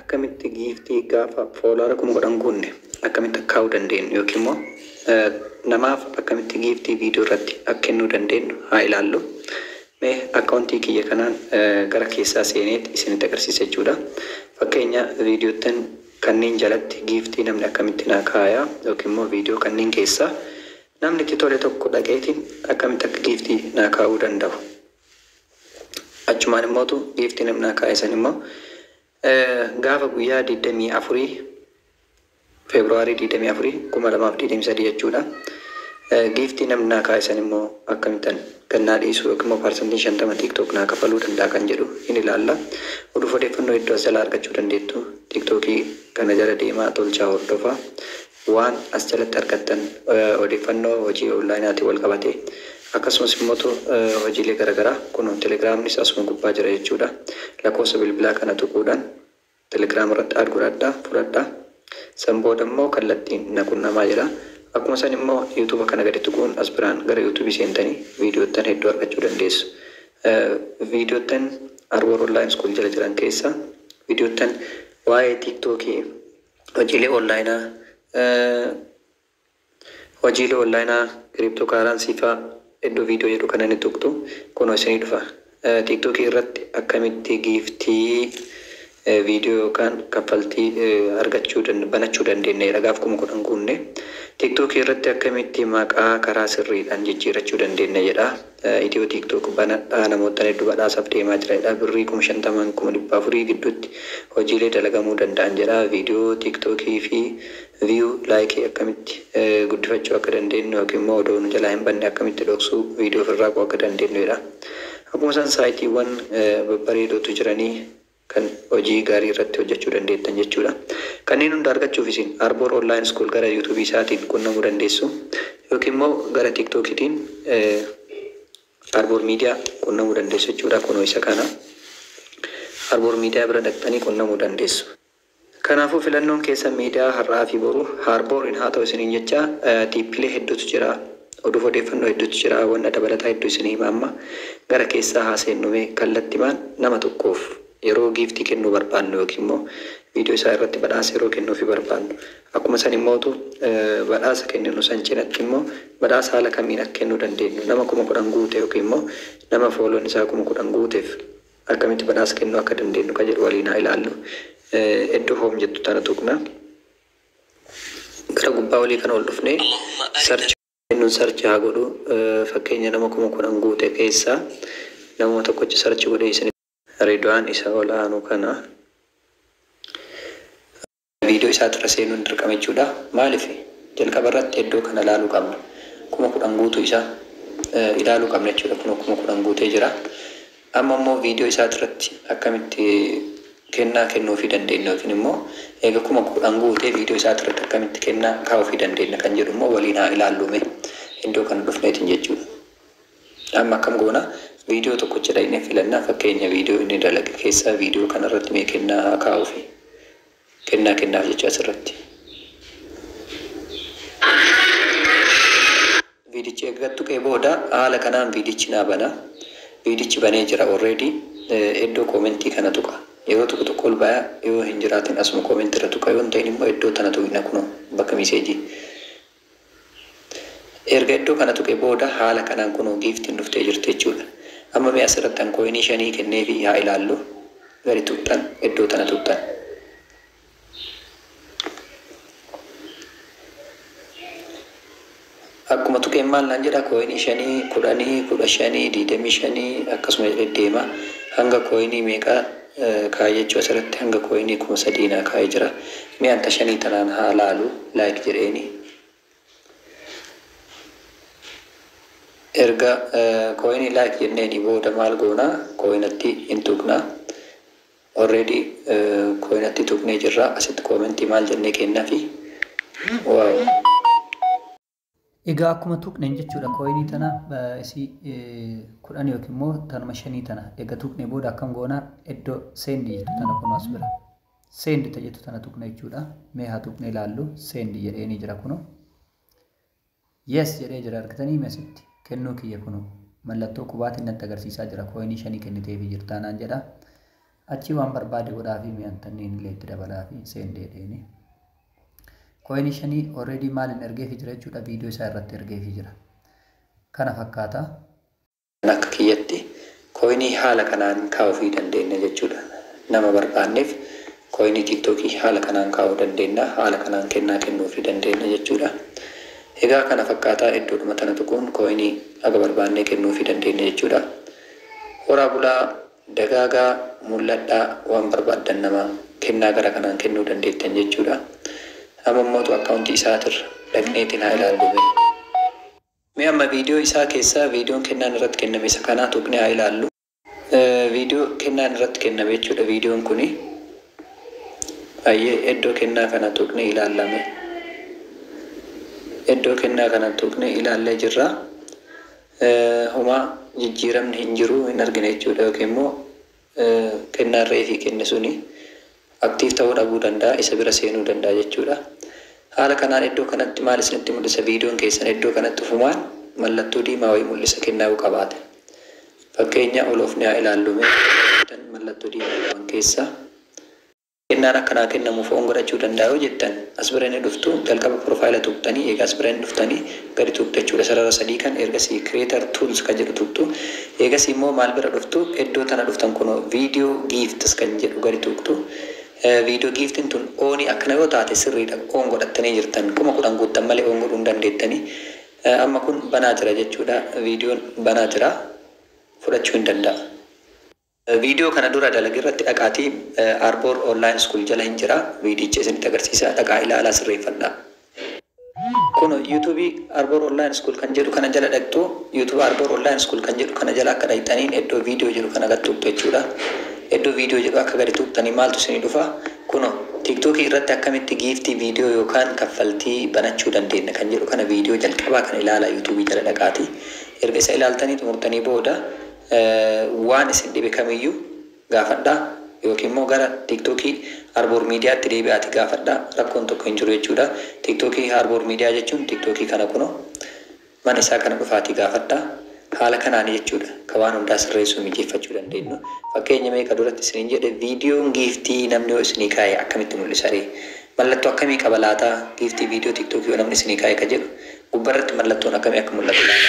Akkamitti giiftii gaafa foolaara kuma kudhan guunne akkamitti akka kaa'uu dandeenyu yookiin immoo namaaf akkamitti giiftii viidiyoo irratti akka kennuu dandeenyu haa ilaallu. Mee akkaawuntii kiyya kanaan gara keessaa seeneet isinitti agarsiisa jechuudha. Fakkeenya viidiyoottan kanneen jalatti giiftii namni akkamitti naa kaaya yookiin immoo viidiyoo kanneen keessaa namni itti tole tokko dhaqeetiin akkamitti akka giiftii naa kaa'uu danda'u Achumaan immootu giiftii namnaa kaa'e san immoo gaafa guyyaa 24 Feebruwaarii 24 2023 jechuudha. Giiftii namni naa kaa'e san immoo akkamittan gannaa dhiisuu yookiin immoo paarsantiin 50 TikTok naa kafaluu danda'a kan jedhu hin ilaalla. Oduuf odeeffannoo hedduu as jalaa argachuu dandeettu. TikTokii kana jala deemaa tolchaa hordofaa. Waan as jalatti argattan odeeffannoo hojii onlaayinaatiin walqabatee akkasumas immoo hojiilee garagaraa kunoo telegraamnis asuma gubbaa jira jechuudha. Lakkoofsa bilbilaa kana tuquudhaan telegram irratti add godhadhaa fudhadhaa. San booda immoo kallattiin na qunnamaa jedhaa. Akkuma san immoo youtube kana gadi tuquun as biraan gara youtube seentanii viidiyoottan hedduu argachuu dandeessu. Viidiyoottan Arwor Online School jala jiran keessaa viidiyoottan waa'ee tiktok Hojiilee Onlaayinaa, Hojiilee Onlaayinaa Crypto Currency faa iddoo video jedhu kana ni tuqxu. Kunoo isinii dhufa. TikTok irratti akkamitti giiftii video yookaan kaffaltii argachuu banachuu dandeenya jedha gaaf 10,000 guunne. TikTok irratti akkamitti maqaa karaa sirriidhaan jijjiirachuu dandeenya jedha. Ethio TikTok banadhaa namoottan heddu badhaasaf deemaa jira jedha birrii kuma 50 hanga kuma 400 gidduutti hojiilee dalagamuu danda'an jedha video TikTok fi view like akkamitti guddifachuu akka dandeennu yookiin immoo odoo nu jalaa hin banne akkamitti dhoksuu video ofirraa quu akka dandeennu jedha akkuma san saayitiiwwan babbareedootu jiranii kan hojii gaarii irratti hojjachuu dandeettan jechuudha. Kanneen hunda argachuuf isin Arbor Online School gara YouTube isaatiin qunnamuu dandeessu yookiin immoo gara TikTok tiin Arbor Media qunnamuu dandeessu jechuudha. Kunoo isa kana. Arbor Media bira dhaqxanii qunnamuu dandeessu. Kanaafuu filannoon keessan miidiyaa har'aa fi boru haarbooriin haa ta'u isiniin jechaa tiippilee hedduutu jira oduuf odeeffannoo hedduutu jira wanna dabalataa hedduu isin hima amma gara keessaa haa seennu mee kallattimaan nama tokkoof yeroo giiftii kennuu barbaannu yookiin immoo viidiyoo isaa irratti badhaasa yeroo kennuufi barbaannu akkuma san immootu badhaasa kenninu san cinatti immoo badhaasa haala kamiin akka kennuu dandeenyu nama kuma kudhan guute yookiin immoo nama fooloon isaa kuma kudhan guuteef Akkamitti badhaasa kennuu akka dandeennu ka jedhu waliin haa ilaallu. Eddo Home jettu tana tuqna. Gara gubbaa olii kana ol dhufnee search jennuun search haa godhu. Fakkeenya nama 10,000 guute keessaa namuma tokkocha search godhee isinitti. Ridwaan isa ol aanu kana. Viidiyoo isaatirra seenuun dirqama jechuudha. Maaliif? Jalqabarratti eddoo kana ilaaluu qabna. 10,000 guutuu isaa ilaaluu qabna jechuudha. Kunoo 10,000 guutee jira. Amma immoo viidiyoo isaatirratti akkamitti kennaa kennuufii dandeenna yookiin immoo eega 10,000 guutee viidiyoo isaatirratti akkamitti kennaa kaa'uufii dandeenna kan jedhu immoo waliin haa ilaallu mee. Eddoo kana dhufneetiin jechuudha. Amma akkam goona? Viidiyoo tokkocha dhaqnee filannaa fakkeenya viidiyoo inni dalage keessaa viidiyoo kana irratti mee kennaa haa kaa'uufi. Kennaa kennaaf jecha asirratti. Viidichi egaa tuqee booda haala kanaan viidichi naa bana. Viidichi banee jira already iddoo koomentii kana tuqa. Yeroo tokko tokko ol baya yoo hin jiraatin asuma koomentii irra tuqa yoo hin ta'in immoo iddoo tana tuqna kunoo bakka miseejii. Erga iddoo kana tuqe booda haala kanaan kunoo giiftiin dhuftee jirti jechuudha. Amma mee asirrattan coin shanii kenneefii haa ilaallu. Gadi tuqxan iddoo tana tuqxan. Akkuma tuqeen maal naan jedha coin shanii, kudhanii, kudha shanii, digdamii shanii akkasuma jedhee deema. Hanga coin meeqa Kaayyachuu asirratti hanga coin kuma sadii naa kaa'ee jira mee an ta shanii tanaan haa laalu like jedheeni erga coin like jenneeni booda maal goona coinatti hin tuqna already coinatti tuqnee jirra asitti comment maal jennee kennafi wow Egaa akkuma tuqnen jechuudha coin tana isi kudhan yookiin immoo tanuma shanii tana ega tuqne booda akkam goona eddo send jettu tana kuno as bira send ta jettu tana tuqna jechuudha mee haa tuqne ilaallu send jedheeni jira kuno yes jedhee jira argitanii mesitti kennuu kiyya kuno mallattoo qubaatiin natti agarsiisaa jira coin shanii kenniteefi jirtaanaan jedha Achii waan barbaade godhaafii mi'an tanniin illee itti dabalaafi seen deedheeni. Coin shanii already maalin ergeefi jira jechuudha video isaa irratti ergeefi jira. Kana fakkaata. An akka kiyyatti coin haala kanaan kaa'uufii dandeenna jechuudha. Nama barbaanneef coin tiktok haala kanaan kaa'uu dandeenna. Haala kanaan kennaa kennuufii dandeenna jechuudha. Egaa kana fakkaata iddoodhuma tana tuquun coin haga barbaannee kennuufii dandeenna jechuudha. Horaa bulaa! Dagaagaa, mul'adhaa, waan barbaaddan namaa kennaa gara kanaan kennuu dandeettan jechuudha. Amma immoo to account isaatirra dhaqneetiin haa ilaallu mee. Mee amma video isaa keessaa videon kennaan irratti kenname isa kanaa tuqnee haa ilaallu. Video kennaan irratti kenname jechuudha videon kuni. Hayyee eddoo kennaa kana tuqnee ilaalla mee. Eddoo kennaa kana tuqnee ilaallee jirra. homaa jijjiiramni hin jiru, hin argine jechuudha yookiin immoo kennaan reefii kenne suni active ta'uu dhabuu danda'a, isa bira seenuu danda'a jechuudha. Haala kanaan iddoo kanatti maal isinitti mul'isa? Viidiyoon keessan iddoo kanatti ufumaan mallattoo diimaa wayii mul'isa kennaa yoo qabaate. Fakkeenya oloofnee haa ilaallu mee. Mallattoo diimaa qaban keessaa. Kennaan akka naa kennamuuf oon godhachuu danda'a yoo jettan as bira ni dhuftu jalqaba profile tuqxanii eega as bira ni dhuftanii gadi tuqxu jechuudha sarara sadii kan ergasii creator tools kan jedhu tuqxu eegasii immoo maal bira dhuftu eddoo tana dhuftan kuno video gifts kan jedhu gadi tuqxu video giftin tun ooni akkana yoo taate sirriidha oon godhattanii jirtan kuma kudhan guuttan malee oon godhuu hin dandeettanii amma kun banaa jira jechuudha videon banaa jira fudhachuu hin danda'a. Viidiyoo kana dura dalage irratti dhaqaatii Arbor Online School jala hin jira viidiyicha isinitti agarsiisa dhaqaa ilaalaa sirreeffadhaa. Kuno YouTube Arbor Online School kan jedhu kana jala dhaqxu YouTube Arbor Online School kan jedhu kana jala akka dhaqxaniin eddoo video jedhu kana gad tuqxu jechuudha. Eddoo video jedhu akka gadi tuqxaniin maaltu isinii dhufa? Kuno TikTok irratti akkamitti giiftii video yookaan kaffaltii banachuu dandeenna kan jedhu kana video jalqabaa kana ilaalaa YouTube jala dhaqaatii erga isa ilaaltanii xumurtanii booda Waan isin dhibe kamiyyuu gaafadhaa yookiin immoo gara tiktok Arboor Media tti deebi'aati gaafadhaa rakkoon tokko hin jiru jechuudha. Tiktok Arboor Media jechuun tiktok kana kunoo mana isaa kana dhufaatii gaafadhaa. Haala kanaani jechuudha ka waan hundaa sirreessuu mijeeffachuu dandeennu. Fakkeenya mee ka duratti isiniin jedhe viidiyoon giiftii namni yoo isinii kaa'e akkamitti mul'isa ree? Mallattoo akkamii qaba laata giiftii viidiyoo tiktok yoo namni isinii kaa'e ka jedhu gubbarratti mallattoon akkamii akka mul'atu laata?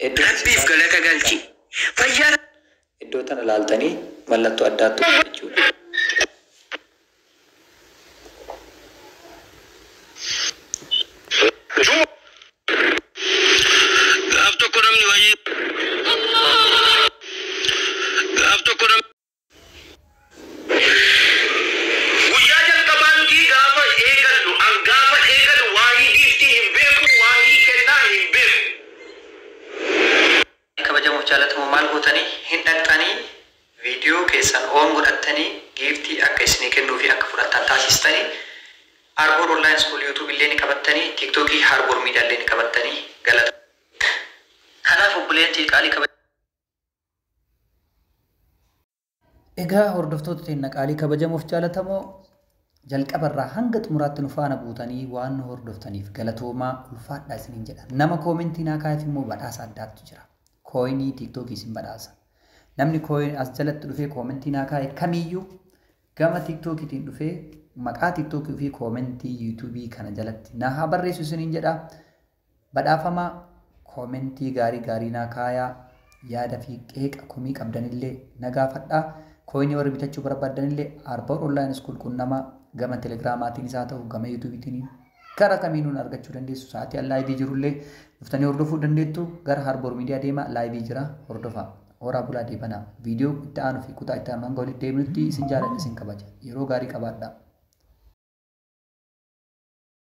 Heddu Rabbiif galata galchi. Fayyaa. Iddoo tana laaltanii mallattoo addaa tuqxu jechuudha. Juma Gaaf tokko namni wayii Gaaf tokko namni. Guyyaa jalqabaattii gaafa eegallu an gaafa eegalu waahii giiftii hin beeku waahii kennaa hin beeku. Kabajamuuf jaalatamoo maal gootanii hin dhaqxanii video keessan on godhattanii giiftii akka issinii kennuu fi akka fudhattan taasistanii Arbor online school youtube illee ni qabattanii tiktoki harbor media illee ni qabattanii galatooma kanaaf obboleeyan tiyya qaalii Egaa hordoftoota teenna qaalii kabajamoof jaalatamoo jalqabarraa hanga xumuraatti nu faana buutanii waan nu hordoftaniif galatoomaa ulfaadhaa isiniin jedha. Nama koomentii naa kaa'eef immoo badhaasa addaatu jira. Kooyinii tiiktookii isin badhaasa. Namni kooyin as jalatti dhufee koomentii naa kaa'e kamiyyuu gama tiiktookiitiin dhufee maqaa tiiktookii ofii koomentii yuutuubii kana jalatti naa haa barreessu isiniin jedha. Badhaafamaa Koomentii gaarii gaarii naa kaayaa Yaada fi qeeqa komii qabdanillee na gaafadhaa Coin warri bitachuu barbaaddanillee Arbor Online School qunnamaa Gama Telegramaatiinis haa ta'u gama YouTube tiiniin Kara kamiinuu na argachuu dandeessu Sa'aatii an live jirullee dhuftanii hordofuu dandeettu Gara Harbor Media deemaa live jira hordofaa Horaa bulaa deebanaa Video itti aanu fi kutaa itti aanu hanga walitti deebinutti isin jaaladha isin kabaja Yeroo gaarii qabaadhaa.